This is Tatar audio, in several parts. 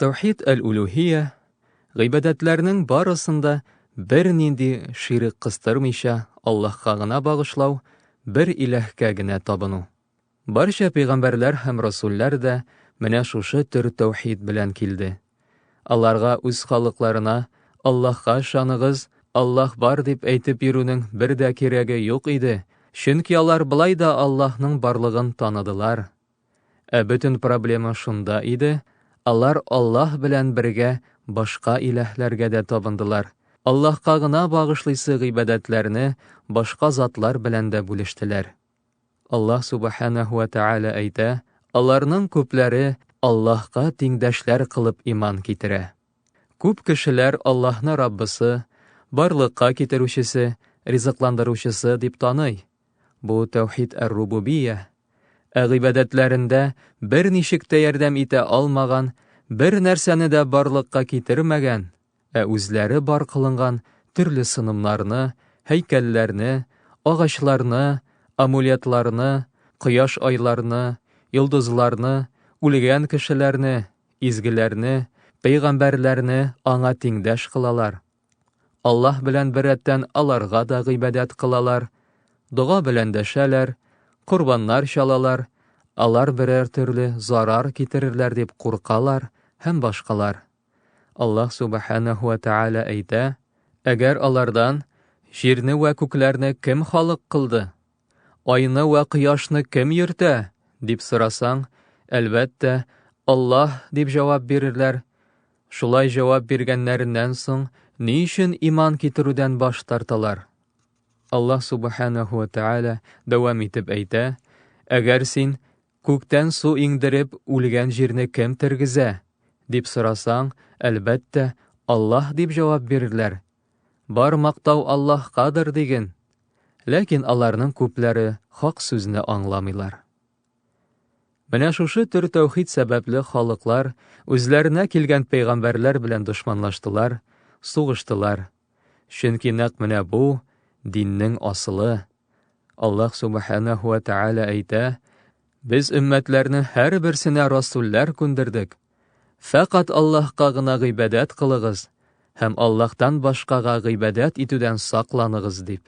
Таухид әл-Улюһия гыйбадәтләрнең барысын да бернинди ширек кыстырмыйча Аллаһка гына багышлау, бер иләһкә генә табыну. Барча пәйгамбәрләр һәм расулләр дә менә шушы төр таухид белән килде. Аларга үз халыкларына Аллаһка ышаныгыз, Аллаһ бар дип әйтеп йөрүнең бер дә кирәге юк иде, чөнки алар болай да Аллаһның барлыгын таныдылар. Ә бөтен проблема шунда иде, алар Аллаһ белән бергә башка иләһләргә дә табындылар, Аллаһка гына багышлыйсы гыйбадәтләрне башка затлар белән дә бүлештеләр. Аллаһ Субханәһу вә Тәгалә әйтә, аларның күпләре Аллаһка тиңдәшләр кылып иман китерә. Күп кешеләр Аллаһны Раббысы, барлыкка китерүчесе, ризыкландыручысы дип таный. Бу тәүхид әр-рубубия, ә гыйбадәтләрендә берничек тә ярдәм итә алмаган, бер нәрсәне дә барлыкка китермәгән, ә үзләре бар кылынган төрле сынымнарны, һәйкәлләрне, агачларны, амулетларны, кояш-айларны, йолдызларны, үлгән кешеләрне, изгеләрне, пәйгамбәрләрне аңа тиңдәш кылалар. Аллаһ белән беррәттән аларга да гыйбадәт кылалар, дога белән дәшәләр, корбаннар чалалар, алар берәр төрле зарар китерерләр дип куркалар һәм башкалар. Аллаһ Субханәһу вә Тәгалә әйтә, Әгәр алардан, Җирне вә күкләрне кем халык кылды? Айны вә кояшны кем йөртә? дип сорасаң, әлбәттә, Аллаһ дип җавап бирерләр. Шулай җавап биргәннәреннән соң, ни өчен иман китерүдән баш тарталар? Аллаһ Субханаһу ва Тааля дәвам итеп әйтә, әгәр син күктән су иңдереп үлгән җирне кем тергезә? дип сорасаң, әлбәттә, Аллаһ дип җавап бирерләр. Бар мактау Аллаһкадыр диген. Ләкин аларның күпләре хак сүзне аңламыйлар. Менә шушы төр тәүхид сәбәпле халыклар үзләренә килгән пәйгамбәрләр белән дошманлаштылар, сугыштылар. Чөнки нәкъ менә бу диннең асылы. Аллаһ Субханаһу ва Тааля әйтә, Без өммәтләрне һәрберсенә расуллар күндердек. Фәкать Аллаһка гына гыйбадәт кылыгыз һәм Аллаһтан башкага гыйбадәт итүдән сакланыгыз дип.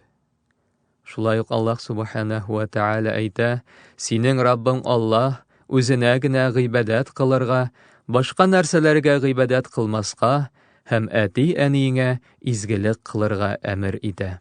Шулай ук Аллаһ Субханаһу ва Тааля әйтә, Синең Раббың Аллаһ, үзенә генә гыйбадәт кылырга, башка нәрсәләргә гыйбадәт кылмаска һәм әти-әниеңә изгелек кылырга әмер итә.